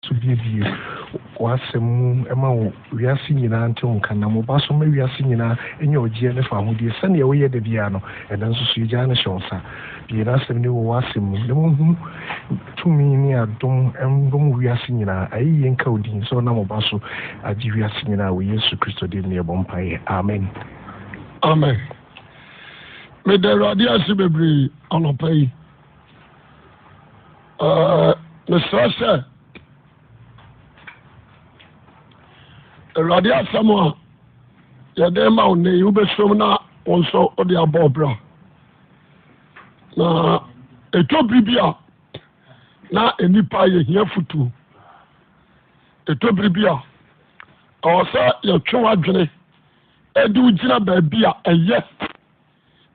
so buebue w'asɛm mu ma wo wiase nyinaa ntew nka, nam wo Ba so ma wiase nyinaa nya ɔgyeɛ ne fahodie sɛdeɛ woyɛ da biara no. Ɛnnɛ nso so yɛgyaa no hyɛ wo nsa. Bue n'asɛm no wɔ w'asɛm mu na wɔnhu tumi ne adom mmom wɔ wiase nyinaa. Ayeyie nka wo din sɛ wonam wo Ba so agye wiase nyinaa wɔ Yesu Kristo din mu na yɛbɔ mpaeɛ. Amen. Amen. Meda Awurade ase bebree anɔpa yi. Ah, mesrɛ sɛ awurade asɛm a yɛde ma wo nnɛ yi wobɛsom na wo nso wode abɔ ɔbra na ɛtɔ biri bi a na nnipa yɛhia fotuo ɛtɔ biri bi a ɛwɔ sɛ yɛtwe w'adwene ɛde wogyina baabi a ɛyɛ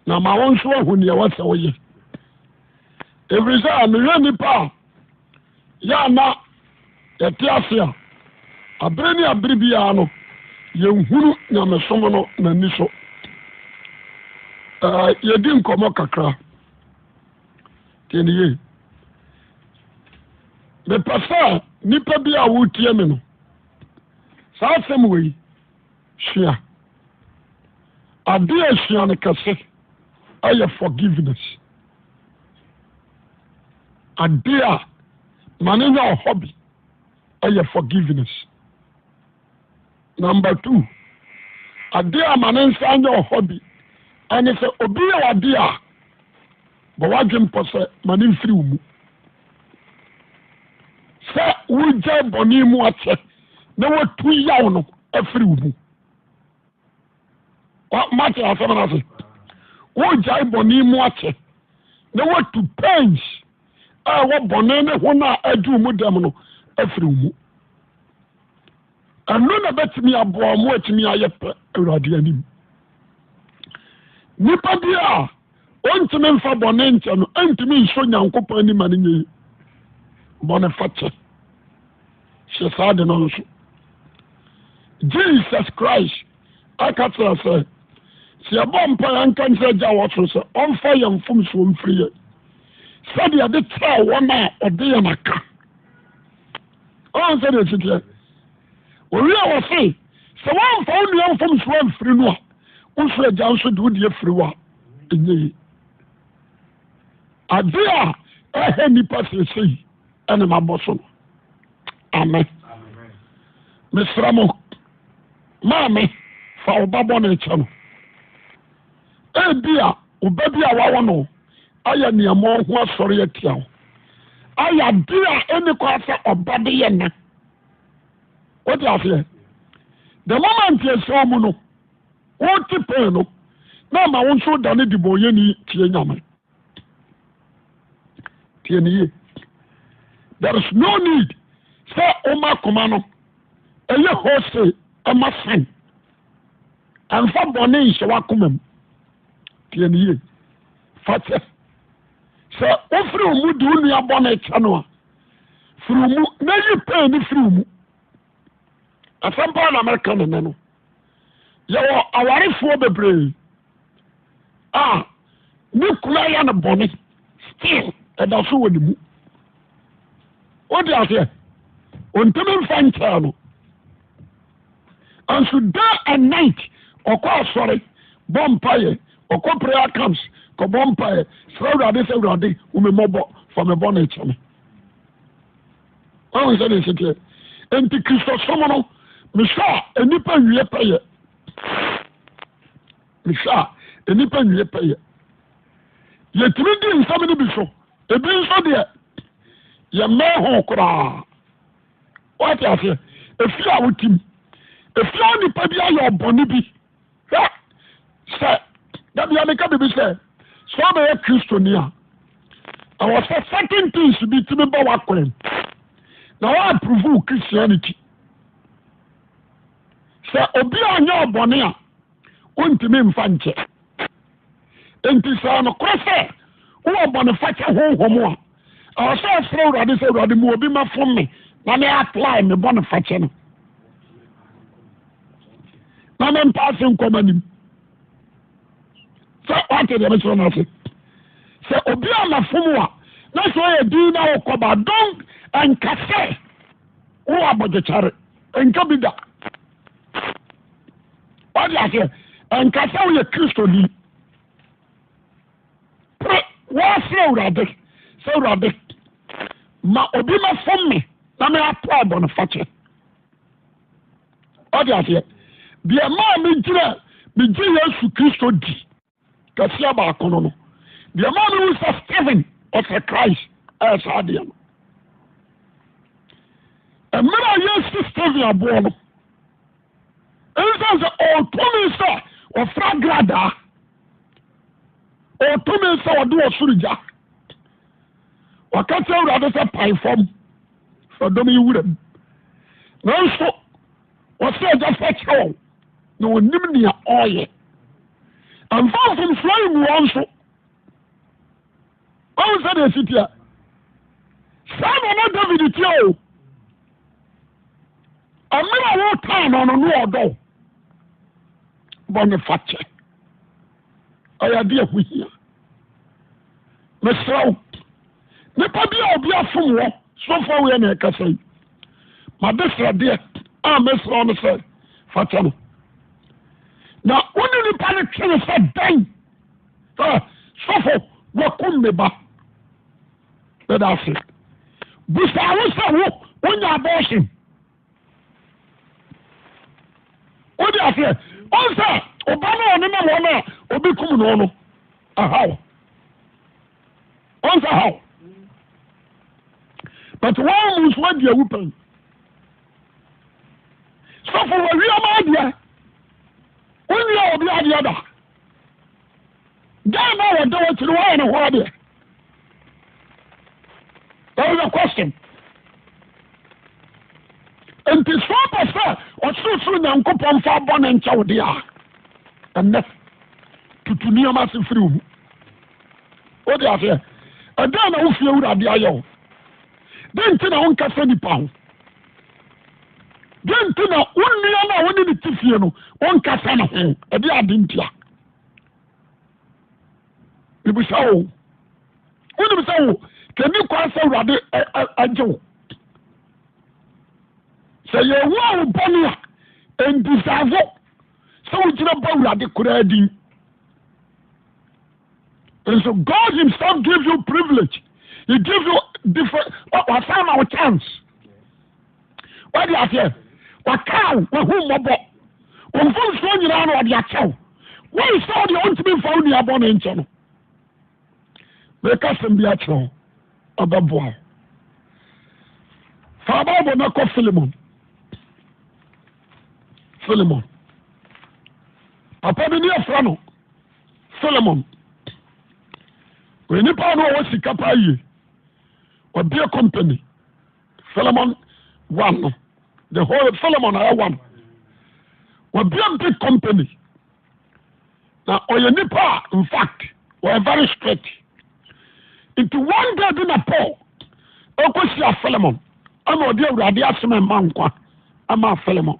na ma wɔn nso ahu nea ɛwɔ sɛ wɔyɛ ɛfiri sɛ mehwɛ nnipa a yɛ a na yɛte ase a abere ne abere biara no yɛnhunu nyamesom no n'ani so yɛdi nkɔmmɔ kakra tiɛneye mepɛ sɛ nnipa bi a wotie me no saa asɛm wei sua Ade a esua no kɛse yɛ forgiveness. Ade a ma no nya ɔhɔ bi yɛ forgiveness. Number two, ade a ma ne nsa nya ɔhɔ bi ɛne sɛ obi yɛ wade a bɔ wadwen pɔ sɛ ma ne mfiri wo mu. Sɛ wogya bɔne mu akyɛ na watu yaw no afiri wo mu. mate asɛm no ase wogyae bɔne mu akyɛ na watu pains a ɛwɔ bɔne ne ho no a aduru mu dɛm no afiri mu ɛno na bɛtumi aboa ɔmo atumi ayɛ pɛ awurade anim nipa bi a Ontumi mfa bɔne nkyɛ no, entumi nso Nyankopɔn anim ma no nyɛ yi. Bɔne fakyɛ hyɛ saa de no nso. Jesus Christ aka kyerɛ sɛ, sɛ yɛbɔ mpa yɛnka nkyerɛ agya wɔ soro sɛ ɔmfa yɛn mfomsoɔ mfiri yɛn sɛdeɛ ɛde kyerɛ wɔn a ɔde yɛn aka ɔn sɛdeɛ ɛsiteɛ Wɔwie a wɔse, sɛ woamfa wo nua mfomsoɔ amfiri no a, wo soro agya nso de wo deɛ firi wo a, ɛnyɛ yie. Ade a ɛhɛ nnipa seesei ɛna mabɔ so no. Amen. Mesra mo, maame fa wo ba bɔne kyɛ no. Ebi a wo ba bi a wawo no ayɛ nneɛma ho asɔre atia wo. Ayɛ ade a ɛne kɔ asɛ ɔba de yɛ na. wote aseɛ the moment yɛsɛw mu no wote pɛn no na ama wo nso da ne de bɔ yɛ ni tie nyame tie ne yie there is no need sɛ woma koma no ɛyɛ hose ɛma san ɛmfa bɔne nhyɛ w'akoma mu tie ne yie fa kyɛ sɛ wofiri wo mu de wo nua bɔne kyɛ no a firi mu na yi pain no firi mu asɛm paa na mɛka ne nɛ no yɛwɔ awarefoɔ bebree a ne kura yɛ no bɔne still ɛda so wɔ ne mu wode aseɛ ɔntumi mfa nkyɛɛ no Nanso day and night ɔkɔ asɔre bɔ mpaeɛ, ɔkɔ prayer camps kɔbɔ mpaeɛ, srɛ Awurade sɛ Awurade hu me mmɔbɔ, fa me bɔne kyɛ me. Wahu sɛ ne nseteɛ. Enti Kristosom no, mehwɛ a nnipa nwie pɛyɛ. Mehwɛ a nnipa nwie pɛyɛ. Yɛtumi di nsɛm no bi so, ebi nso deɛ yɛmmɛn ho koraa. wate aseɛ ɛfie a wotim ɛfie a nipa bi ayɛ ɔbɔne bi hwɛ sɛ da bia meka biribi sɛ sɛ wobɛyɛ kristoni a ɛwɔ sɛ certain things bi tumi ba woakwan na woaprove wo christianity sɛ obi anyɛ ɔbɔne a wontumi mfa nkyɛ enti sɛ nokorɛ sɛ wowɔ bɔnefakyɛ honhom a ɛwɔ sɛ ɔfrɛ awurade sɛ awurade mu obi ma fom me na me apply me bɔnefakyɛ no na mempa ase nkɔma nim sɛ wate deɛ mekyerɛ no ase sɛ obi a nafom a na sɛ ɔyɛ din na wokɔba don ɛnka sɛ wowɔ abɔdwekyare ɛnka bi da ɔde aseɛ ɛnka sɛ woyɛ kristoni pere wɔsrɛ awurade sɛ awurade ma obi mɛfom me na meapɔ abɔno fakyɛ ɔde aseɛ deɛ maa megyina megye yesu kristo di kɛseɛ baako no no deɛ maa mehu sɛ Stephen ɔsɛ Christ ɛyɛ saa adeɛ no mmerɛ a yɛsi Stephen aboɔ no ɛnsiane sɛ ɔtumi sɛ ɔfra gradaa ɔtumi sɛ ɔde ɔsoro gya ɔka kyerɛ awurade sɛ pae fam fadɔm yi wura mu nanso wɔsɛ agya fa kyerɛ wɔn na ɔnim nea ɔreyɛ ɛmfa mfomsoɔ ngu wɔn so ɔhu sɛ deɛ ɛsi teɛ saa na na david teɛ o ɛmerɛ a wɔtaa no no ne ɔdɔ bɔne fakyɛ ɔyɛ adeɛ a ɛho hia mesrɛ wo nipa bi a obi afom wɔ sɔfo awoyɛ na ɛkasa yi made sradeɛ a mesrɛ wo no sɛ fa kyɛ no na wo ne nipa no twe no sɛ dan sɔfo wakum me ba bɛda ase busa wo sɛ wo wonya abɔɔhyen wode aseɛ ɔn sɛ ɔba no a ɔnenam wɔn a ɔbɛkum no no ahaw ɔn sɛ haw but wɔn mu nso adi awu pɛn sɔfo wɔawiama adeɛ wonwia obi adeɛ da Dan na wɔda wɔn akyi no wɔayɛ ne ho adeɛ that is the question nti sɛ ɔpɛ sɛ ɔsorosoro nyankopɔn fa bɔ ne nkyɛw deɛ a ɛnɛ tutu nneɛma ase firi wo mu wode aseɛ ɛdɛn na wofie wurade ayɛ wo dɛn nti na wonkasa nipa ho Dɛn nti na wo nua no a wone ne te fie no wonkasa ne ho? Ɛde ade ntia. Mebisa wo, wonim sɛ wo kɛni kwan sɛ Awurade agye wo? Sɛ yɛwu a wo bɔne a, ɛndisavo sɛ wogyina bɔ Awurade koraa din. And so God Himself gives you privilege. He gives you different, or, or chance. wadi aseɛ wakaw wahu mmɔbɔ wɔn mfomsoɔ nyinaa na ɔde akyɛw wɔn sɛ ɔde ɔntumi mfa wo nua bɔne nkyɛ no meka sɛm bi akyerɛ wo ɔbɛboa wo fa bible na kɔ filimon filimon papa bi ne afra no filimon onipa no ɔwɔ sika paa yie ɔbea company Solomon one no the whole Solomon ayɛ one wabia big company na ɔyɛ nipa a in fact wɔyɛ very strict nti one day bi na Paul ɔkɔhyia Solomon ɛna ɔde awurade asɛm ɛma nkwa ama Solomon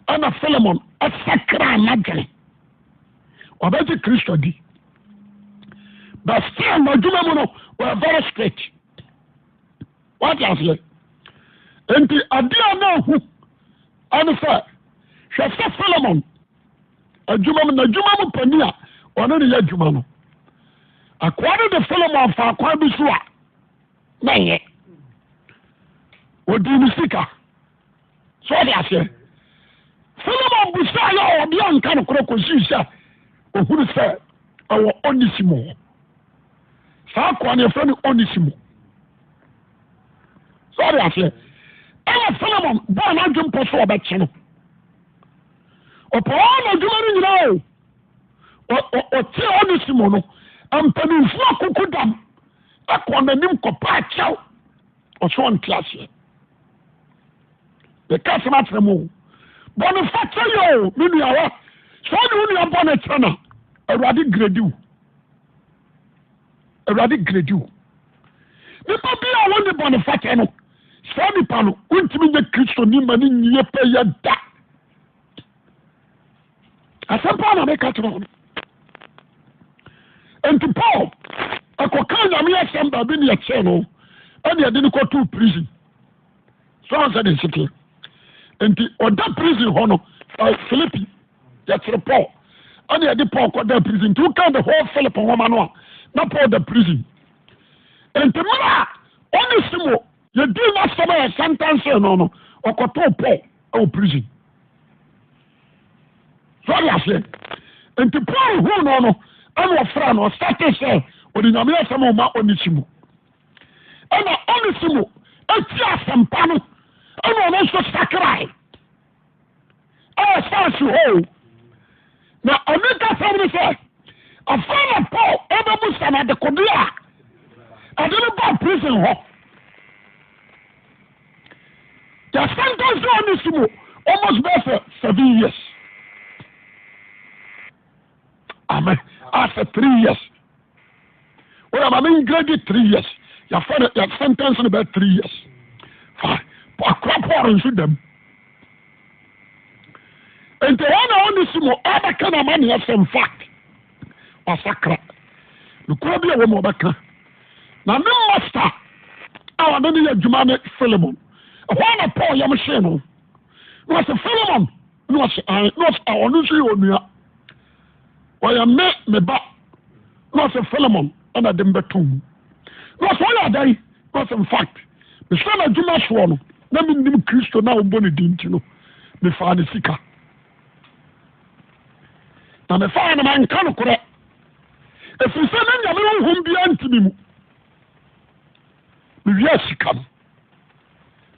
ɛna Solomon ɛsakra anadwene ɔbɛgye Kristo di but still n'adwuma mu no wɔyɛ very strict wate aseɛ nti adeɛ a na ahu ɛne sɛ hwɛ sɛ solomon adwuma mu n'adwuma mu pani a ɔne ne yɛ adwuma no akoa no de solomon fa akwan bi so a na yɛ ɔdii ne sika So ɔde aseɛ? Solomon busaa yɛ ɔde anka no korɔ kɔsii sɛ ɔhunu sɛ ɛwɔ onisimo hɔ saa kɔɔ ne ɛfrɛ no onisimo so ɔde aseɛ ɛna solomon bɔɔ n'adwe mpɔ so ɔbɛkye no ɔpɔɔ na adwuma no nyinaa o ɔte onisimo no mpanimfoɔ akoko dam ɛkɔɔ n'anim kɔpaa kyɛw ɔsɛ ɔnte aseɛ meka asɛm akyerɛ mu o bɔne fakyɛ yɛ o me nuawa sɛ ɔne wo nua bɔne kyɛ na awurade gredi wo awurade gredi wo nipa bi a wɔne bɔne fakyɛ no saa nipa no wontumi nyɛ kristoni ma ne nyie pɛ yɛ da asɛm paa na meka kyerɛ wɔn nti paul ɛkɔka nyame asɛm baabi ne ɛkyɛɛ no ɛne ɛde no kɔtoo prison so ansɛ de nseteɛ nti ɔda prison hɔ no philippi yɛkyere paul ɛne ɛde paul kɔda prison nti woka the whole philip nwoma no a na paul da prison nti mmerɛ a ɔne simo Yɛdii n'asɛm a yɛsɛntɛnsee no no, ɔkɔtoo Paul wɔ prison. So ɔde aseɛ? Nti Paul huu no no, ɛna ɔfrɛ no, ɔsate sɛ ɔde Nyame asɛm a ɔma Onesimo. Ɛna Onesimo ɛti asɛmpa no, ɛna ɔno nso sakrae. ɛwɔ saase hɔ o na ɔno nkasɛm no sɛ ɔfa na paul ɛbɛbu sa no adekode a ɔde no baa prison hɔ yɛsɛntɛnse ɔne si mu almost bɛɛ sɛ seven years amen after three years wọ́n yà maame ngredi three years yà fẹ́ no yà sentence no bẹ́ẹ̀ three years fine akora paul nso dẹ̀m nti wọn na wọn ni si mu ọbẹ kan na ama ni ẹsẹ nfa wasakra nukura bi a wọn ọbẹ kan na ne masta a wọn de ne yɛ adwuma ne filimon ɛhɔ na paul yam hyɛn no wọn sɛ filimon. na ɔse ae na ɔse a ɔno nso yɛ onua ɔyɛ me me ba na ɔse Philemon ɛna de mbɛto mu na ɔse ɔyɛ adan na ɔse infact mesɛ no adwuma soɔ no na mennim kristo na ɔmbɔ ne din nti no mefaa ne sika na mefaa no manka nokorɛ ɛfiri sɛ na nyame honhom biara ntimi mu mewia sika no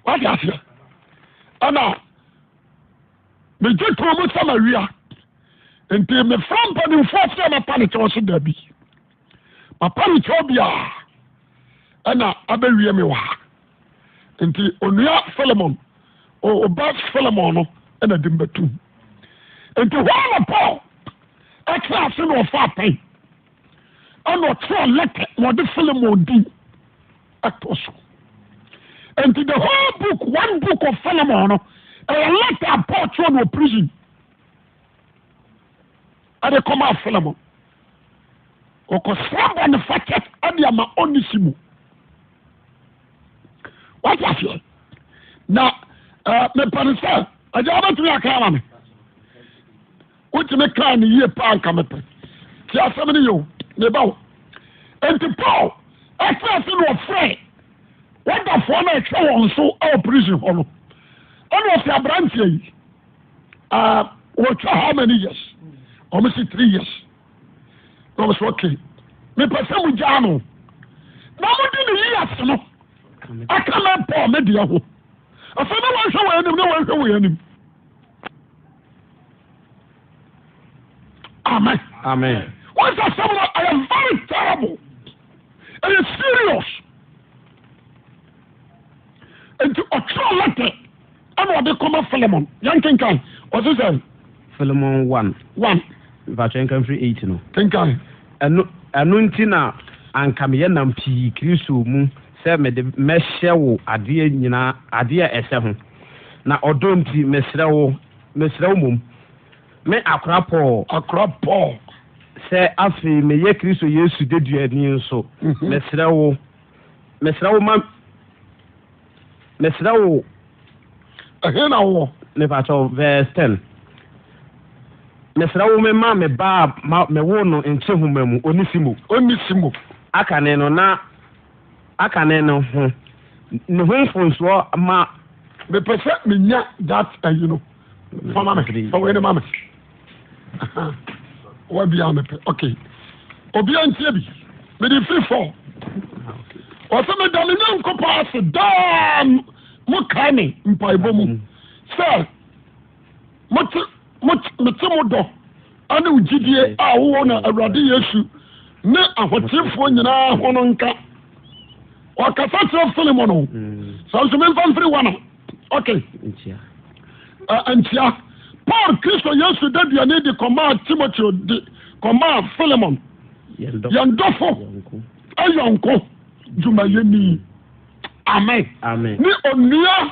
wate aseɛ ɛna megye toɔ mu sɛ mawia nti mefrɛ mpanimfoɔ sɛ mɛpa ne kyɛw so da bi mapa ne kyɛw biara ɛna abɛwie me wɔ ha nti onua solomon ɔba solomon no ɛna de mbɛtum nti hɔ na paul ɛte ase na ɔfa apɛn ɛna ɔkyerɛ lɛtɛ na ɔde solomon din ɛtɔ so. Nti the whole book, one book of Philemon no, ɛyɛ letter a Paul twerɛ no wɔ prison ɛde kɔmaa Philemon. Ɔkɔsra bɔ ne fakyɛ ɛde ama Onesimo. Wate aseɛ? Na mepɛ ne sɛ agya wobɛtumi aka ama me. Wotumi kaa no yie paa nka mepɛ. Ti asɛm no yɛ o, meba o. Enti Paul ɛte ase na ɔfrɛɛ wɔdafoɔ no ɛhwɛ wɔn so wɔ prison hɔ no. Ɛna ɔsi aberanteɛ yi, uh, wɔtwa how many years? Wɔn si three years. Na wɔn so okay. Mepɛ sɛ mo gyaa no. Na mo di ne yi ase no. Aka mɛ Paul me deɛ ho. Afei na wɔn hwɛ wɔn anim na wɔn hwɛ wɔn anim. amen amen wọn sɛ asɛm no ɛyɛ very terrible ɛyɛ serious nti ɔtwerɛ lɛtɛ ɛna ɔde kɔma filemon yɛnkenkan ɔse sɛ filemon 1 1 mpakyɛ nka mfiri 8 no kenkan ɛno ɛno nti na anka meyɛ nam pii kristo mu sɛ mede mɛhyɛ wo adeɛ nyinaa adeɛ a ɛsɛ ho Na ɔdɔ nti, mesrɛ wo, mesrɛ wo mmom, me akora Paul, akora Paul, sɛ afei meyɛ Kristo Yesu deduani nso, mesrɛ wo, mesrɛ wo ma, mesrɛ wo, ɛhe na wowɔ? mepakyɛ wo, verse ten, mesrɛ wo mema me ba a ma mewoo no nkyehoma mu, Onesimo, Onesimo, akane no na aka no no ho no ho mfonsoɔ ma. Mepɛ sɛ menya that ayi no fa ma me fa wei no ma me wa bia mepɛ ok obia ntie bi mede firi fɔ ɔsɛ meda me nyankopɔn ase daa mo kae me mpaebɔ mu sɛ mete mo dɔ ne wo gyidie a wowɔ na Awurade Yesu ne ahotefoɔ nyinaa ho no nka. Ɔkasa kyerɛ Filemon o. Mm. Saa nso memfa mfiri wa no. Okay. Nkyia. Nkyia. Paul Kristo Yesu da duane de kɔmaa Timoteo de kɔmaa Filemon. Yɛn dɔfo ayɔnko dwumayɛni. Amen. Amen. Ne onua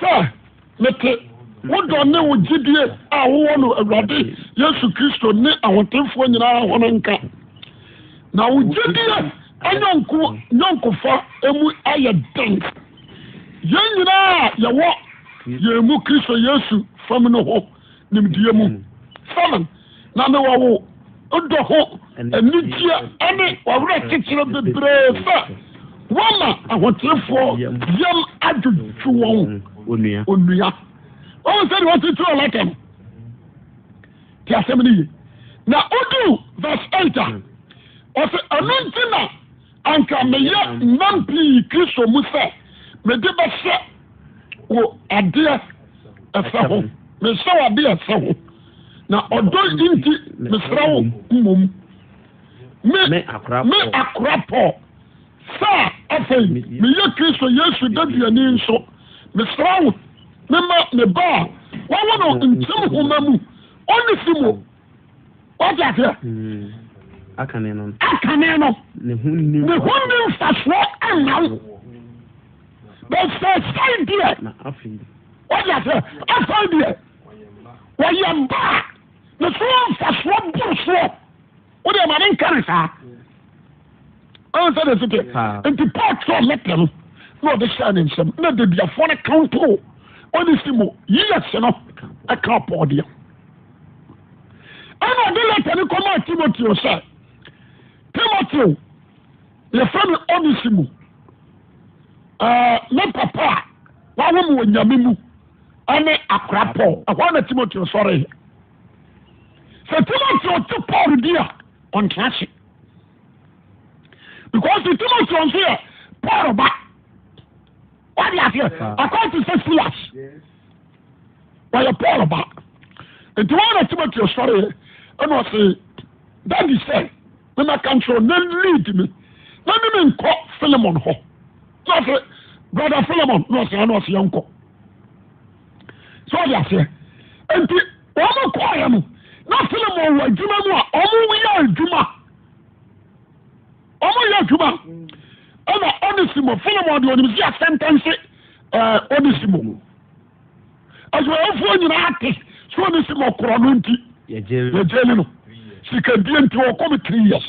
sɛ mete wo dɔ ne wo gyidie a wowɔ no Awurade Yesu Kristo ne ahotefoɔ nyinaa ho no nka. Na wo gyidie anyɔnko nyɔnkofa mu ayɛ den yɛn nyinaa a yɛwɔ yɛn mu Kristo Yesu fam no ho. nimdeɛ mu sɛne na ne wɔwo dɔ ho anigyeɛ ne wɔwerɛ kyekyerɛ bebree sɛ wɔma ahotefoɔ yam adwodwo wɔn onua wɔn sɛdeɛ wɔtete wɔ lata no te asɛm no ye na wodu verse 8 a ɔsɛ ɛno nti na Anka meyɛ nnam pii Kristo mu sɛ mede bɛhyɛ wo adeɛ ɛsɛ ho, mehyɛ wo adeɛ ɛsɛ ho, na ɔdɔ nti mesrɛ wo mmom, me, me akora Paul, sɛ afei meyɛ Kristo Yesu deduani nso, mesrɛ wo, mema me ba a wɔawo no nkyem homa mu, Onesimo, wɔte aseɛ hmm. akane no akane no ne ho nni mfasoɔ ɛnna wo bɛsɛsɛe deɛ wɔte aseɛ afei deɛ wɔyɛ baa ne so mfasoɔ boro soɔ wode ɛma ne nka ne saa ɔn sɛ de sete nti paul twerɛ lɛtɛ no na ɔde hyɛɛ ne nsɛm na dadiafoɔ no kawontoo ɔne si mu yiyɛ se no ɛka pɔɔdeɛ ɛna ɔde lɛta no kɔmaa timoteo sɛ timoteo yɛfrɛ no onesimo ne papa a wawo mu wɔ nyame mu ɛne akora paul ɛhɔ na timoteo sɔreeɛ sɛ timoteo te paul di a ɔntra ase because timoteo nso yɛ paul ba wade aseɛ akɔte sɛ silas wɔyɛ paul ba nti wɔn na timoteo sɔreɛ ɛna ɔse dadi sɛ memɛka nkyerɛ na lead me na ne me nkɔ philemon hɔ na ɔse brother philemon na ɔse ana ɔse yɛnkɔ sɛ ɔde aseɛ nti wɔn kɔɔyɛ no na philemon wɔ adwuma mu a wɔn yɛ adwuma wɔn yɛ adwuma ɛna ɔnisimo filimɔ de ɔnim si asɛntɛnse ɛɛ ɔnisimo mu adwumayɛfoɔ nyinaa te so ɔnisimo korɔ no nti yɛgyeli no sikadie nti ɔkɔ mi three years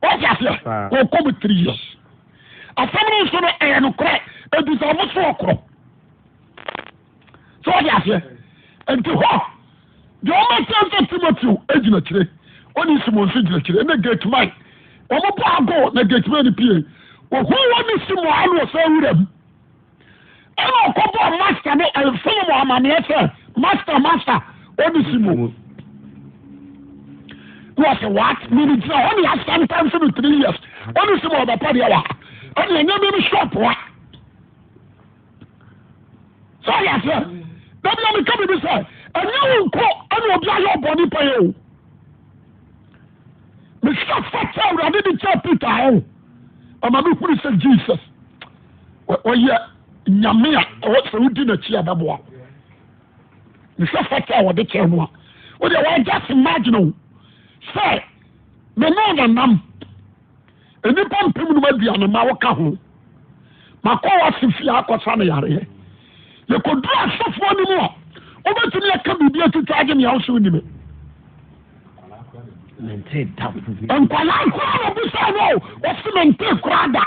wɔsi aseɛ ɔkɔ mi three years asɛm no nso no ɛyɛ no korɛ ebi sɛ ɔmo so ɔkorɔ. sɛ wɔde aseɛ nti hɔ deɛ wɔn aseɛ sɛ timoteo gyina kyire ɔne simon nso gyina kyire ɛna gate man wɔn bɔ ago na gate man no pie ohun wɔn ne simon ano ɔsɛ wura mu ɛna ɔkɔ bɔ master ne ɛnfɛn mu amaneɛ sɛ master master ɔne simon na ɔsɛ what mene gyina hɔ ne asɛm tan so no three years ɔne simon ɔbɛpɔ deɛ wa ɔne ɛnyɛ me no shop wa. sɛ ɔyɛ aseɛ dabi na meka biribi sɛ ɛnyɛ wo nko ɛna obi ayɛ ɔbɔne pɛ yɛ o mehwɛ fa kyɛ awurade de kyɛ peter ho ɔma mehunu sɛ jesus ɔyɛ nyame a ɛwɔ sɛ wodi n'akyi a bɛboa mehwɛ fa kyɛ a wɔde kyɛ no a wodeɛ wɔagya se marginal sɛ mene nanam Nnipa mpem num aduane ma woka ho. Makɔ wase fie akɔsa no yareɛ. Yɛkɔduru asɔfoɔ no mu a, wobɛtumi aka biribi atwitwa agye nea woso nni me. Nkwadaa koraa na bisa no o, wɔsi me nte koraa da.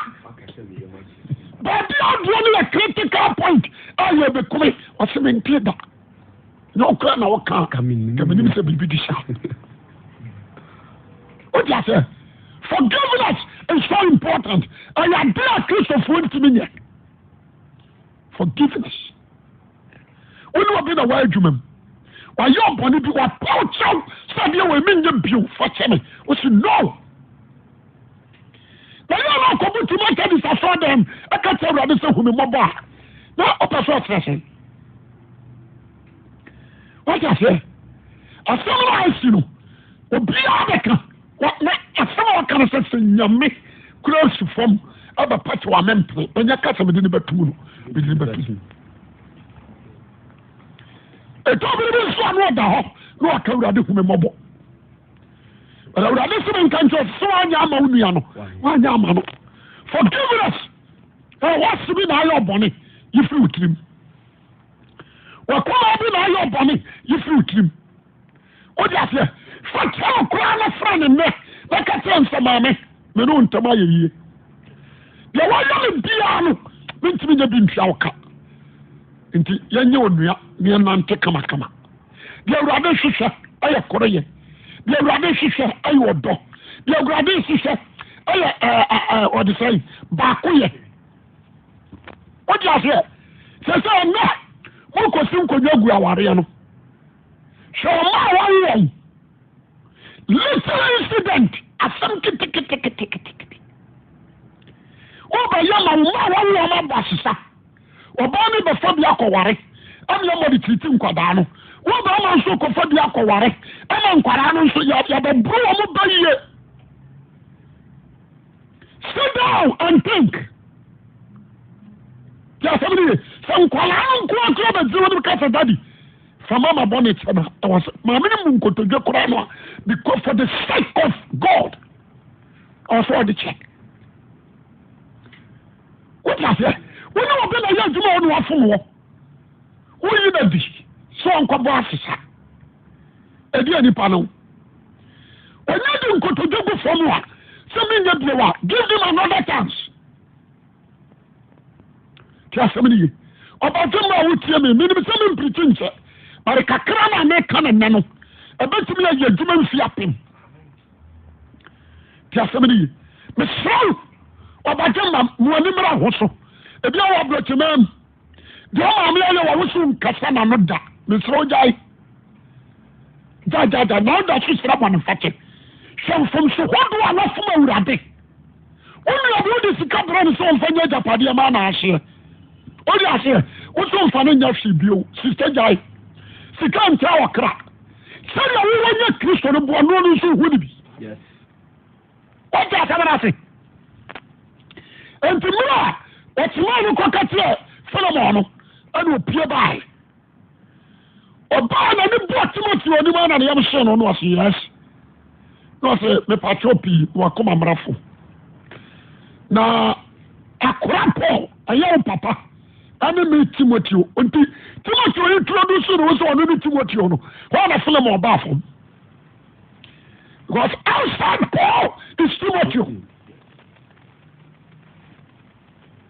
Baabi adeɛ no yɛ critical point a yɛbɛkumi, wɔsi me nte da. na ɔkura na ɔka kamenim sɛ biribi di sa o di ase forgiveness is so important ɛyɛ ade a kristofoɔ ntumi nyɛ forgiveness wone obi na wɔayɛ adwuma mu wayɛ ɔbɔne bi wapaw kyɛw sɛ adeɛ wɔ ɛmi nyɛ bio fa kyɛ me wosi no na yɛ na ɔkɔbu tim atadis asɔ dɛm ɛka kyerɛ awurade sɛ hu me mmɔbɔ a na ɔpɛ sɛ ɔkyerɛ sɛn wate aseɛ asɛm no a asi no obiara bɛka na asɛm a ɔka no sɛ sɛ nyame kura si fam ɛbɛpa kyɛ wame mpene ɛnyɛ ka sɛ mede ne bɛtum no mede ne bɛtum ɛtɔ bere bi nso a na ɔda hɔ na ɔka awurade hu me mmɔbɔ But awurade sɛ menka nkyɛ sɛ sɛ woanyɛ ama wo nua no woanyɛ ama no forgiveness ɛwɔ se bi na ayɛ ɔbɔne yɛfiri wo tirim wakoma bi na ayɛ ɔbɔne yɛfiri wo tirim wode aseɛ fa kyerɛ wo koraa no fra ne nnɛ na ka kyerɛ nsɛ maame me ne wo ntam ayɛ yie deɛ woayɛ me biaa no mentumi nya bi ntua wo ka nti yɛnyɛ onua ne yɛnante kamakama Deɛ Awurade hwehwɛ yɛ koreyɛ. Deɛ Awurade hwehwɛ yɛ ɔdɔ. Deɛ Awurade hwehwɛ yɛ ɛɛ ɔde sɛ yi baako yɛ. O ti aseɛ sɛ sɛ ɛnɛ mo kɔ si nkonnwa gu awareɛ no sɛ ɔmo a wɔn wɔn little incident asɛm kitikitikitikitikiti. Wọ́n bẹ̀ yẹ ma wọ́n a wọ́n wọ́n abọ̀ asesa. Ɔbaa no bɛfa bi akɔware, ɛnna yɛma ɔde tiriti nkwadaa no. Wo barima nso rekɔfa bi akɔware, ɛnna nkwadaa no nso yɛabɛboro wɔn bɛ yie. Sit down and think. Yɛ asɛm no yie. Sɛ nkwadaa no nko akora bɛgye wɔn no kasa dadi. Fa mama bɔ ne kyɛ na ɛwɔ sɛ maame no mu nkotodwe koraa no a because for the sake of God ɔsɛ ɔde kyɛ. wote aseɛ wo ne obi na ɛyɛ adwuma wɔ ne wafom wɔ woyi no adi sɛ ɔnkɔbɔ asesa ɛdeɛ nipa no ɔnya de nkotodwe gu fam a sɛ menyɛ bio a give them another chance te asɛm no ye ɔbɛgye ma a wotie me menim sɛ mempirikyi nkyɛ bare kakra na meka ne nnɛ no ɛbɛtumi ayɛ adwuma mfi apem ti asɛm no ye mesrɛ wo ɔbadwe ma mo ani mmra ho so ebi a wɔ aborɔkyema mu deɛ ɔmaame ayɛ wɔ wo so nkasa na no da mesrɛ wo gyae gyagyagya na woda so srɛ bɔne fakyɛ hwɛ mfomso hodoɔ a wafom awurade Wone obi wode sika brɛ no sɛ ɔmfa nyɛ agyapadeɛ ma na ahyeɛ. Wode aseɛ, wo so mfa no nyɛ hwee bio. Sista gyae. Sika ntra ɔkra. Sɛdeɛ wowɔ nyɛ Kristo no boa noɔ no nso ho ne bi. Wate asɛm no ase? Enti mmerɛ a ɔtemaa no kɔka kyerɛ Solomon no, ɛna opie bae. ɔbaa na ne bɔɔ timothy ɔnim a na ne yam hyɛ no no ɔse yes na ɔse mepatrɔ pii na wakoma mmarafo na akora paul ɛyɛ wo papa ɛne me timothy nti timothy yi turo do so no wo sɛ ɔno ne timothy no hɔ na film ɔbaa fam because outside paul is timothy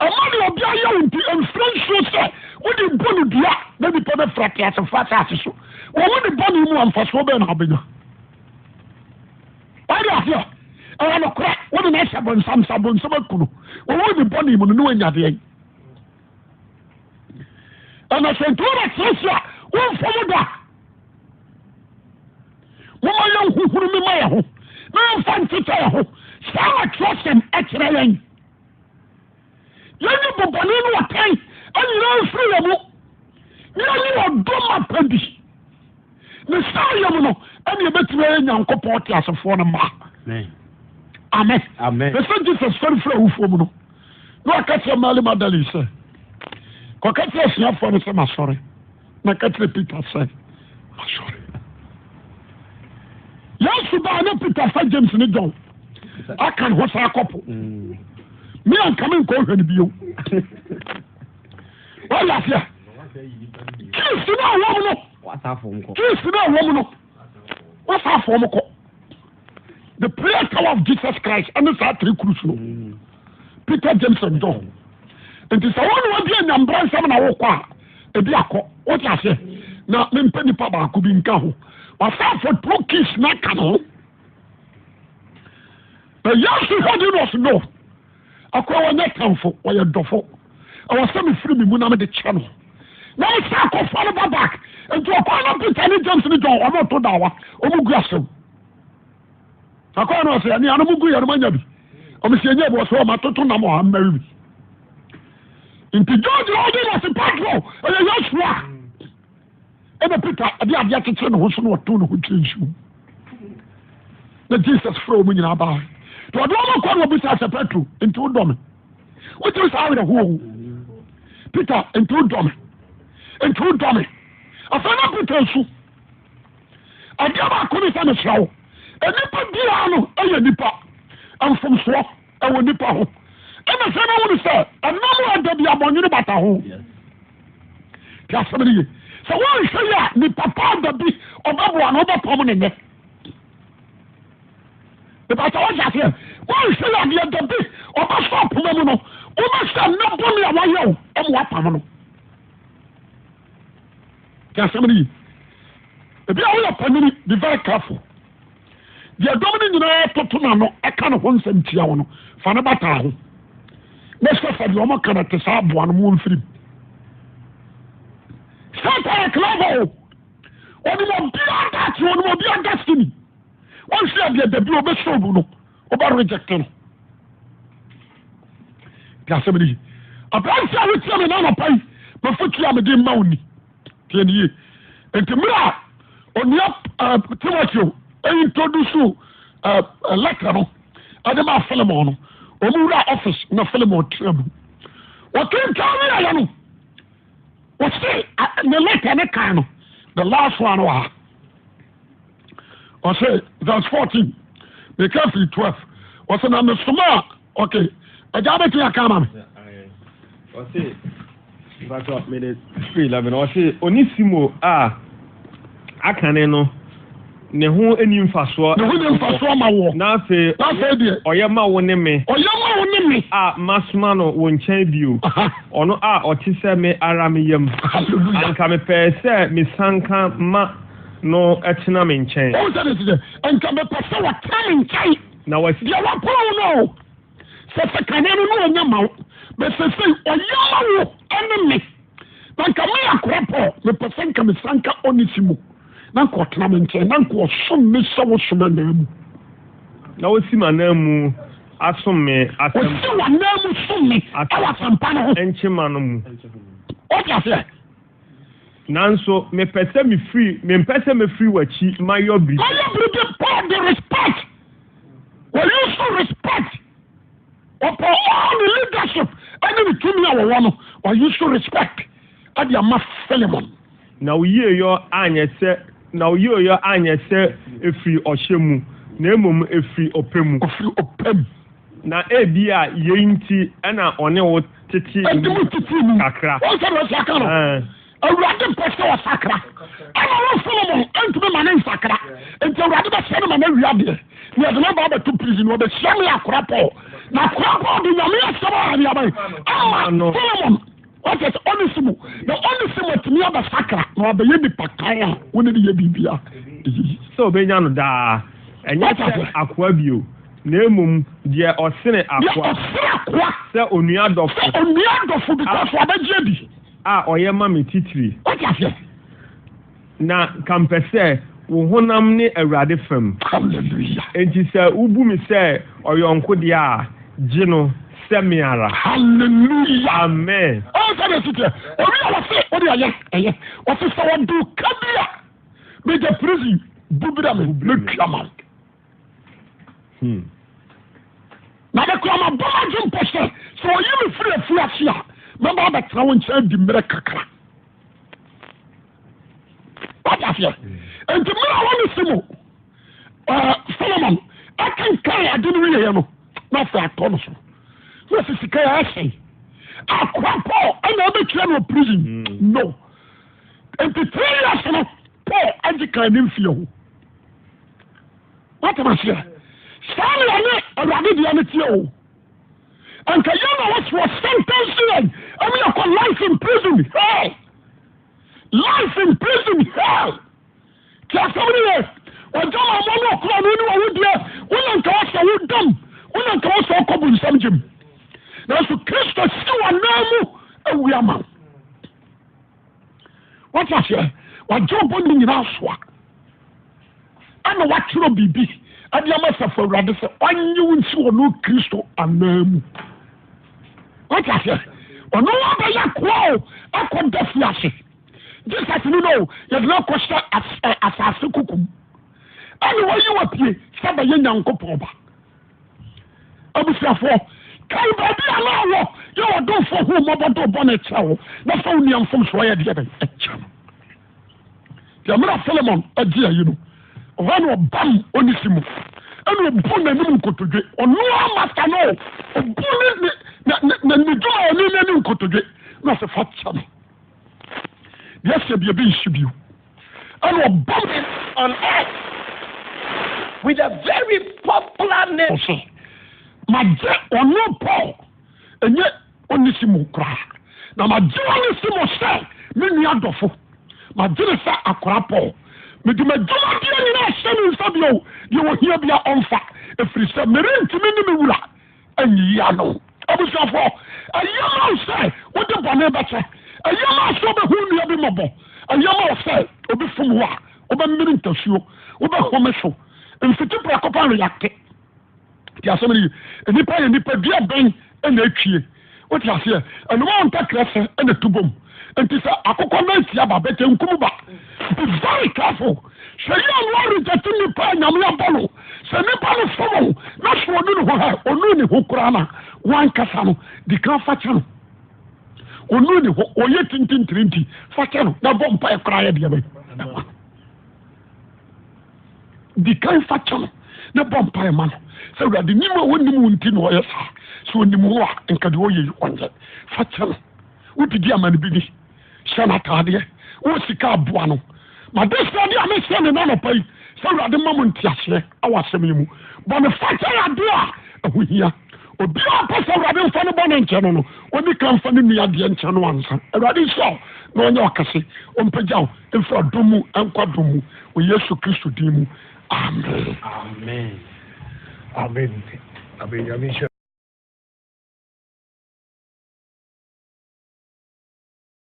Ɛma deɛ obi ayɛ wo nti, mfrɛ nsuo sɛ wode rebɔ no dua na nnipa bɛfira teasefo asase so. Wɔ wo ne bɔne mu a, mfasoɔ bɛn na wobɛnya? Wade aseɛ, ɛyɛ nokorɛ, wo ne no ahyɛ bɔnsam sɛ bɔnsam aku no. Wɔ wo ne bɔne mu no, ne wanya deɛ. Ɛna sɛ nti wobɛtease a, womfa mu da. Momma yɛnhohoro me ma yɛ ho, na yɛmfa ntetɛ yɛ ho. Saa na twerɛsɛm ɛkyerɛ yɛn. yɛnyi bɔbɔne no ɔtan anyina mfiri yɛ mu ne yɛnyi ɔdɔ ma pa bi ne saa yɛ mu no ɛne yɛbɛtumi ayɛ nyankopɔn te asefoɔ no ma amen ne sɛ jesus fɛrefiri awufoɔ mu no na ɔka kyerɛ mary magdalene sɛ kɔka kyerɛ asuafoɔ no sɛ masɔre na ka kyerɛ Peter sɛ, Masɔre. Yesu baa na Peter fa James ne John aka ne ho saa kɔpo. Me a nka me nkɔ hwɛ no bio. Wɔyɛ ase a. Kiisi na awɔ mu no. Kiisi na awɔ mu no. Wɔsa afɔ mu kɔ. the prayer tower of jesus christ ɛne saa three cruise no mm. peter james and john nti sɛ wɔn na wɔde anyambra nsɛm na wɔkɔ a ebi akɔ wɔte aseɛ na mempɛ nipa baako bi nka ho wasanfo two keys na aka no ho na yesu hɔ de no ɔso no Akoa wɔ nyɛ tamfo ɔyɛ dɔfo ɛwɔ sɛ me firi me mu na me de kyɛ no na me san kɔ fa no ba back nti ɔkwan no Peter ne James ne John ɔmo to dawa ɔmo gu asɛm akoa no ɔsɛ ɛne anom gu yɛ no manya bi ɔmo sɛ ɛnyɛ bi ɔsɛ ɔmo atoto nam ɔha mmɛri bi nti George ɔde na se patro ɛyɛ yɛ sua Ɛna Peter ɛde adeɛ akyekyere ne ho so na ɔtoo ne ho kyerɛ nsu mu. Na Jesus frɛ wɔn nyinaa baa. Nti ɔde wɔn kɔ na ɔbisa sɛ Petro, nti wodɔ me? Wogye saa awerɛhoɔ o. Peter, nti wodɔ me? Nti wodɔ me? Afei na Peter nsu. Adeɛ baako ne sɛ mesrɛ wo, nnipa biara no yɛ nnipa mfomsoɔ. wɔ nipa ho ɛna sɛ na wɔn sɛ ɛnam a da bi abɔnyere bata ho te asɛm no yie sɛ wɔnhwɛ yɛ a nipa pa da bi ɔbɛboa no ɔbɛpam ne nɛ ìbàtà wọ́n ṣàṣẹ wọ́n ń ṣe adeɛ dẹ̀bi ọba sọ ọ̀pọ̀mọ́ mu no wọ́n bá ṣe ẹ̀nà bọ́ọ̀lù àwọn ayé o ọmọ wa pàmò no. kí asẹ́mi ni yìí ebi àwọn yẹ pàmìlì be very careful. Deɛ dɔm no nyinaa toto n'ano ka ne ho nsɛm tia wo no, fa no bata ho. Ne sɛ fa deɛ wɔka no te sɛ aboa no mu mfirim. Satan yɛ clever o. Ɔnim obiara daakye, ɔnim obiara destiny. Wɔnhwɛ adeɛ da bi ɔbɛsɛ obu no, ɔbɛ reject no. Te asɛm no yi. Aberanteɛ a wotia me na anɔpa yi, mafotua mede mma wo ni. Tie ne yie. Nti mmerɛ a onua uh, Timoteo introduce uh, eh, eh, letter no ɛde maa Philemon no wɔn wura office na Philemon tena mu wɔkenkan ne yɛyɛ no wɔse ne letter ne kan no the last one wɔ ha ɔsɛ verse fourteen meka firi twelve ɔsɛ na mesoma a ɔke ɛgya wobɛtumi aka ama me ɔse batɔ mede firi eleven ɔse onisimo a akane no ne ho ni mfasoɔ ne ho ni mfasoɔ ma woɔ na afei afei deɛ ɔyɛ ma wo ne me ɔyɛ ma wo ne me a masoma no wo nkyɛn bio ɔno a ɔte sɛ me ara me yam anka mepɛɛ sɛ mesanka ma No tena me nkyɛn. Wohu sɛ ne se sɛ, Anka mepɛ sɛ wɔtena me nkyɛn. Na wɔasi. Deɛ wɔapaw wo no o, sɛ sɛ kane no na ɔnya ma wo, bɛ sesei ɔya ma wo ne me. Na anka me akoa Paul, mepɛ sɛ anka mesanka Onesimo, na anka ɔtena me nkyɛn, na anka ɔsom me sɛ wo som ananmu. Na ɔsi m'ananmu asom me asɛmpa. Ɔsi w'ananmu som me wɔ asɛmpa no ho. Nkyema no mu. Wote aseɛ? Nanso mepɛ sɛ mefiri, mempɛ sɛ mefiri w'akyi mayɔ biribi. Mayɔ biribi Paul de respect, wɔyi so respect. Ɔpɔ all ne leadership ɛne ne tumi a wɔwɔ no, wɔyi so respect ɛde ama Philemon. Na wo yieyɔ anyɛ sɛ, na wo yieyɔ anyɛ sɛ efiri ɔhyɛ mu, na mmom efiri ɔpɛ mu. Ofiri ɔpɛ mu. Na ebia yei nti na ɔne wo. tete mu. Ɛde mu tete mu. Kakra. Wɔn sɛ deɛ ɔsi aka no. Awurade pɛ sɛ ɔsakra. Ɛna wɔn Solomon ɛntumi ma ne nsakra. Nti awurade bɛ sɛ ne ma ne wia deɛ. Ni ɛde ne ba abɛto prison wɔ bɛ hyia ne akora pɔl. Na akora pɔl de nyame asɛm a ne aban. Ama Solomon wɔsɛ sɛ ɔne si mu. Na ɔne si mu atumi abɛsakra na wabɛyɛ nipa kan a wɔne de yɛ biribia. Sɛ ɔbɛnya no daa. Ɛnyɛ sɛ akoa bio. Na mmom deɛ ɔsene akoa. Deɛ ɔsene akoa. Sɛ onua dɔfo. Sɛ onua dɔfo because wabɛgye adi. A ɔyɛ ma me titire. Wote aseɛ? Na nka mpɛ sɛ wo honam ne Awurade fam. Hallelujah. Enti sɛ wobu me sɛ ɔyɔnko deɛ a, gye no sɛ me ara. Hallelujah. Amen. Ɔn sɛdeɛ ɛsi teɛ. Obi a wɔse wode ɛyɛ ɛyɛ. Wɔse sɛ wɔde wo ka bi a, megya prison bu brɛ me, mɛtua ma wo. Hmm. Na mekura mabɔ m'adwe mpo sɛ sɛ ɔyi me firi afuo ase a mɛba abɛtena wo nkyɛn di mmerɛ kakra. Wate aseɛ? Nti mmerɛ a wɔne si mu Solomon akenkan ade no wieɛ no na afei atɔ no so na sɛ sika yɛ ɛsɛn akoa Paul ɛna ɛbɛkyerɛ no prison hmm. no nti three years no Paul agye kan ne mfie ho woatam aseɛ saa na yɛne awurade deɛ no teɛ o anka yɛ na wɔsoɔ sentence yɛn ɛmu yɛkɔ life in prison hell life in prison hell tí asɛm no yɛ ɔgya ma ɔmɔ no ɔkora no ne wɔwodeɛ wona nka wɔsɛ wodam wona nka wɔsɛ ɔkɔ bonsam gyem nanso kristo si wɔ nan mu awia ma wo wate aseɛ wagye ɔbɔ ne nyinaa soa ɛna watwerɛ biribi ɛde ama sɛfo awurade sɛ ɔnye wo nsi wɔ no kristo anaa mu wate aseɛ ɔno wabɛyɛ koa o akɔda fi ase jesus no no yɛde no akɔhyɛ asase kokum ɛne wɔyi wapie sɛ bɛyɛ nyankopɔn ba Abusuafoɔ, kae baabi a na ɔwɔ, yɛ w'adɔfoɔ ho mmɔbɔ de bɔne kyɛ wo, na fa wo nua mfomsoɔ yɛ deɛ bɛn kyɛ no. Deɛ mmerɛ Filemon agye ayi no, ɔhɔ na ɔbam Onesimo, ɛna ɔbu n'anim nkotodwe, ɔno ara masta no, ɔbu ne ne ne ne dwumayɛni n'ani nkotodwe, na ɔsɛ fa kyɛ no. Deɛ sɛ biribi nsi bio. Ɛna ɔbɔ me on air with a very popular name so magye ɔno Paul ɛnyɛ Onesimo koraa na magye Onesimo sɛ me nua dɔfo magye ne sɛ akora Paul mede m'adwumadeɛ nyinaa hyɛ ne nsa bio deɛ ɔhia bia ɔmfa ɛfiri sɛ merentumi ne me wura awia no. Abusuafo, ɛyɛ ma wo sɛ wode bɔne bɛkyɛ? Ɛyɛ ma wo sɛ wobɛhu nnua bi mmɔbɔ? Ɛyɛ ma wo sɛ obi fom wo a, wobɛmene ntasuo, wobɛhome so? Mfiti prɛko pɛ reacte. Ti asɛm no yie. Nnipa yɛ nipadua bɛn na etwie? Wote aseɛ? Ɛnoma wo ntakra sɛ ɛna tu bom. Nti sɛ akokɔ nan tia ba bɛtɛ nkum ba. Be very careful. Hwɛ yie a na ɔrejɛte nipa a Nyame abɔ no. Sɛ nipa no som wo na sɛ ɔnu ne ho hɛ, ɔnu ne ho koraa na wankasa no, dikan fa kyɛ no. Ɔnu ne ho, ɔyɛ tintintiri nti fa kyɛ no na bɔ mpaeɛ koraa yɛ deɛ bɛn. Di kan fa kyɛ no na bɔ mpaeɛ ma no sɛ, Awurade, nim a ɔnnim wo nti na ɔyɛ saa. Sɛ ɔnim wo a, nka deɛ ɔyɛ yi ɔnyɛ. Fa kyɛ no. Wode di ama no bi ni, hyɛ no ataadeɛ, wowɔ sika a, boa no. M'adesrɛdeɛ a mesrɛ no nnɛ anɔpa yi, sɛ Awurade mma mo nteaseɛ wɔ asɛm yi mu. Bɔ no fakyɛ yɛ adeɛ a ɛho hia. Obiara a ɔpɛ sɛ Awurade mfa ne bɔne nkyɛ no no, ɔni kan mfa ne nua deɛ nkyɛ no ansa. Awurade nhyira wo na ɔnyɛ ɔkɛse. Ɔmpagya wo mfiri adom mu nkɔ adom mu wɔ Yesu Kristo din mu. Amen. Amen. Amen. Amen. Nyame nhyira.